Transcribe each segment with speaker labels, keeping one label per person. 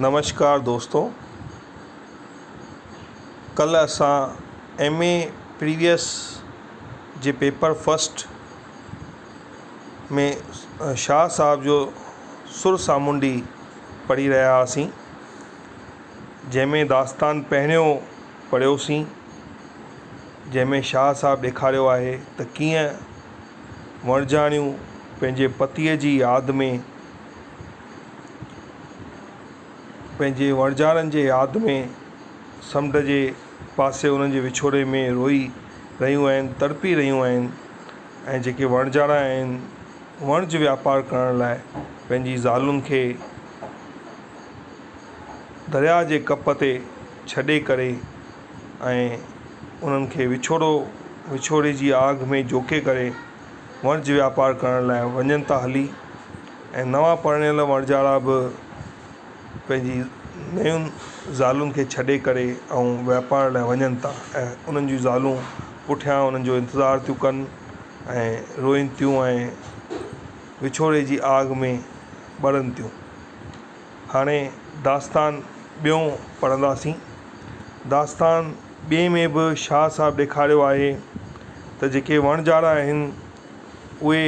Speaker 1: نمشڪار دوستو ڪلھ اسان ايم اي پريويس جي پيپر فسٽ ۾ شاھ صاحب جو سر سامونڊي پڙھي رھيا ھئاسين جنھن ۾ داستان پهريون پڙھيوسين جنھن ۾ شاھ صاحب ڏيکاريو آھي ته ڪيئن وڻجاڻيون پنھنجي پتيء جي ياد ۾ پنهنجي وڻجارن جي ياد ۾ سمنڊ جي پاسي انهن جي وڇوڙي ۾ روئي رهيون آهن تڙپي رهيون آهن ۽ جيڪي وڻجارا آهن وڻج واپار ڪرڻ لاء پنهنجي ذالن کي درياء جي ڪپ تي ڇڏي ڪري ۽ انهن کي وڇوڙو وڇوڙي جي آگ ۾ جوکي ڪري وڻج واپار ڪرڻ لاء وڃن ٿا هلي ۽ نوان پرڻيل وڻجارا به پنهنجي نين زالن کي ڇڏي ڪري ۽ واپار لاء وڃن ٿا ۽ انهن جون زالون پٺيان انهن جو انتظار ٿيون ڪن ۽ روئين ٿيون ۽ وڇوڙي جي آگ ۾ ٻرن ٿيون هاڻي داستان ٻيو پڙهنداسين داستان ٻئي ۾ به شاهه صاحب ڏيکاريو آهي ته جيڪي وڻجارا آهن اهي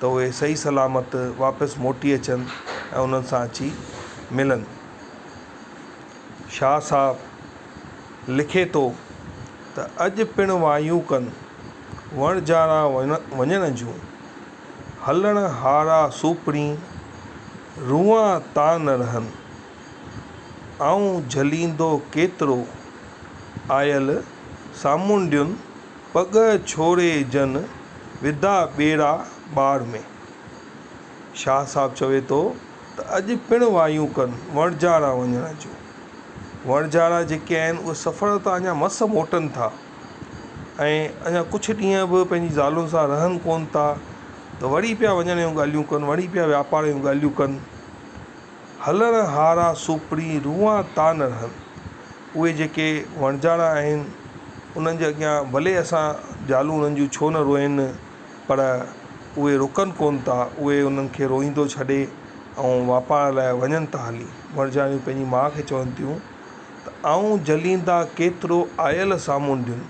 Speaker 1: ته اهي صحيح سلامت واپس موٽي اچن ۽ انهن سان اچي ملن. شاهه صاحب لکي ٿو ته اڄ پڻ وايون ڪن، وڻجارا وڃڻ جون، هلڻ هارا سوپڙين، روئان تان نه رهن، آئون جهليندو ڪيترو، آيل سامونڊين پڳ ڇوڙي جن وڌا ٻيڙا ٻاڙ ۾. شاهه صاحب چوي ٿو ته اڄ پڻ وايون ڪن وڻجارا وڃڻ جون. وڻجارا جيڪي آهن اهي سفر تان اڃا مس موٽن ٿا ۽ اڃا ڪجهه ڏينهن به پنهنجي زالن سان رهن ڪونه ٿا ته وڙي پيا وڃڻ جون ڳالهيون ڪن، وڙي پيا واپار جون ڳالهيون ڪن. هلڻ هارا سوپڙي روئان تا نه رهن. اهي جيڪي وڻجاڙا آهن، انهن جي اڳيان ڀلي اسان زالون انهن جون ڇو نه روئين، پر اهي رڪن ڪونه ٿا، اهي انهن کي روئيندو ڇڏي ۽ واپار لاء وڃن ٿا هلي. وڻجاڙيون پنهنجي ماء کي چون ٿيون ته آئون جليندا ڪيترو آيل سامونڊين،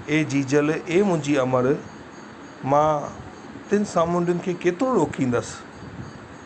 Speaker 1: اي جيجل، اي منهنجي امڙ، مان تن سامونڊين کي ڪيترو روڪيندس.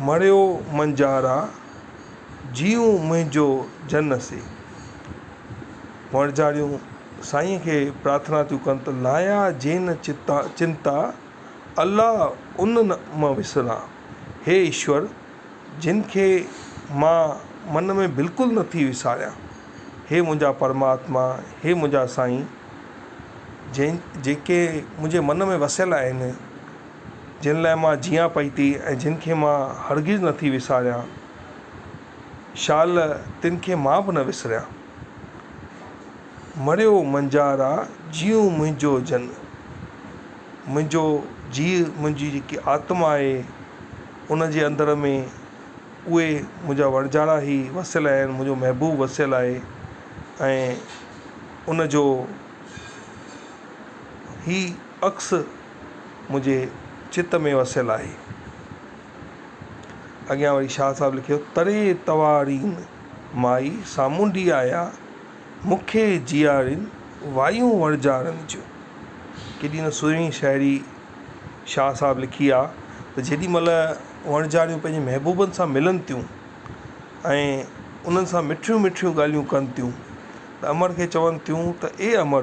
Speaker 1: مڙيو منجهارا، جيون منهنجو جن سي. وڻجاريون سائينء کي پرارٿنا ٿيون ڪن ته لايا جين چنتا، الله ان نه م وسران. هي ايشور، جن کي مان من ۾ بلڪل نه ٿي وساريان. هي منهنجا پرماتما، هي منهنجا سائين، جن جيڪي منهنجي من ۾ وسيل آهن، جن لاء مان جيئان پئي ٿي ۽ جن کي مان هرگز نه ٿي وساريان، شال تن کي مان به نه وسريان. مريو منجهارا جيئون منهنجو جن، منهنجو جيء منهنجي جيڪي آتما آهي ان جي اندر ۾ اهي منهنجا وڻجارا هي وسيل آهن، منهنجو محبوب وسيل آهي ۽ ان جو هي عڪس منهنجي چت ۾ وسيل آهي. اڳيان وري شاهه صاحب لکيو تڙي توارين مائي سامونڊي آيا مون کي جيارين وايون وڻجارن جون. ڪيڏي نه سهڻي شاعري شاهه صاحب لکي آهي ته جيڏي مهل وڻجاريون پنهنجي محبوبن سان ملن ٿيون ۽ انهن سان مٺيون مٺيون ڳالهيون ڪن ٿيون ته امڙ کي چون ٿيون ته اي امڙ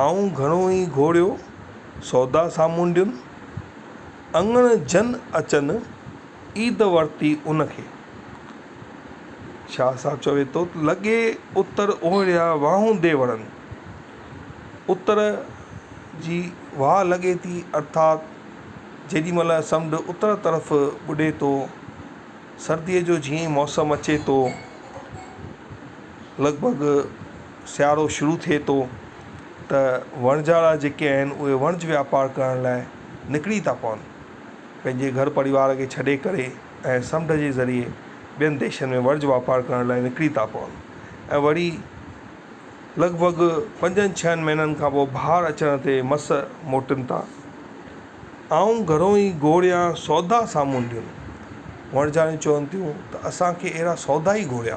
Speaker 1: آئون گهڻو ئي گهوڙيو سودا سامونڊين، اڱڻ جن اچن عيد ورتي ان کي. شاهه صاحب چوي ٿو ته لڳي اتر اوهڙيا واهون دي وڻن، اتر جي واهه لڳي ٿي ارٿات جيڏي مهل سمنڊ اتر طرف ٻڏي ٿو، سرديء جو جيئن ئي موسم اچي ٿو لڳ ڀڳ، سيارو شروع ٿئي ٿو ته وڻجارا جيڪي آهن اهي وڻج واپار ڪرڻ لاء نڪري ٿا پون پنهنجي گهر پريوار کي ڇڏي ڪري ۽ سمنڊ جي ذريعي ٻين ديشن ۾ وڻج واپار ڪرڻ لاء نڪري ٿا پون ۽ وري لڳ ڀڳ پنجن ڇهن مهينن کان پوء بهار اچڻ تي مس موٽن ٿا آئون گهرو ئي گهوريان سودا سامونڊيون وڻجاريون چون ٿيون ته اسان کي اهڙا سودا ئي گهوريا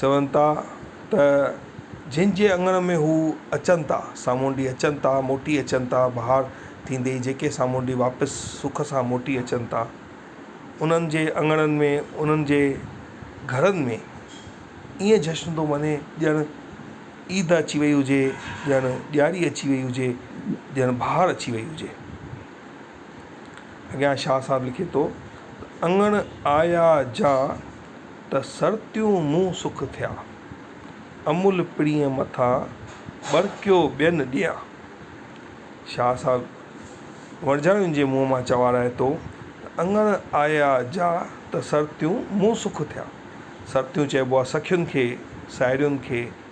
Speaker 1: چون ٿا ته جن جي اڱڻ ۾ هو اچن ٿا، سامونڊي اچن ٿا، موٽي اچن ٿا، بهار ٿيندي ئي جيڪي سامونڊي واپس سک سان موٽي اچن ٿا، انهن جي اڱڻن ۾، انهن جي گهرن ۾ ائين جشن ٿو مني ڄڻ عيد اچي وئي هجي، ڄڻ ڏياري اچي وئي هجي، ڄڻ بهار اچي وئي هجي. اڳيان شاهه صاحب لکي ٿو ته اڱڻ آيا جان ته سرتيون مون سک ٿيا، امول پڻيء مٿان ٻرڪيو ٻين ڏيان. شاهه صاحب ورجايون جي منهن مان چوارايو ٿو ته اڱڻ آيا جا ته سرتيون مون سک ٿيا. سرتيون چئبو آهي سکين کي، ساهيڙين کي.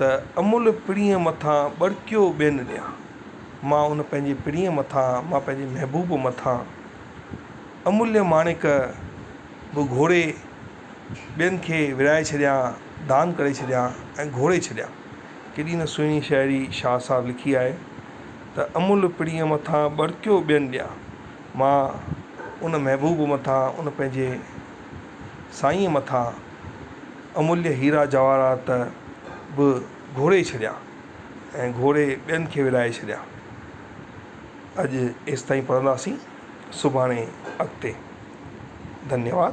Speaker 1: ته املهه پڻيء مٿان ٻرڪيو ٻين ڏيان. مان ان پنهنجي پڻيء مٿان، مان پنهنجي محبوب مٿان املهه ماڻڪ به گهوري ٻين کي ورهائي ڇڏيان، دان ڪري ڇڏيان ۽ گهوري ڇڏيان. ڪيڏي نه سهڻي شاعري شاهه صاحب لکي آهي ته املهه پڻيء مٿان ٻرڪيو ٻين ڏيان. مان ان محبوب مٿان، ان پنهنجي سائينء مٿان، امليھ ھيرا جواھرات به گھوري ڇڏيا ۽ گھوري ٻين کي ورھائي ڇڏيا. اڄ ايستائين پڙھنداسين سڀاڻي اڳتي. ڌنيواد.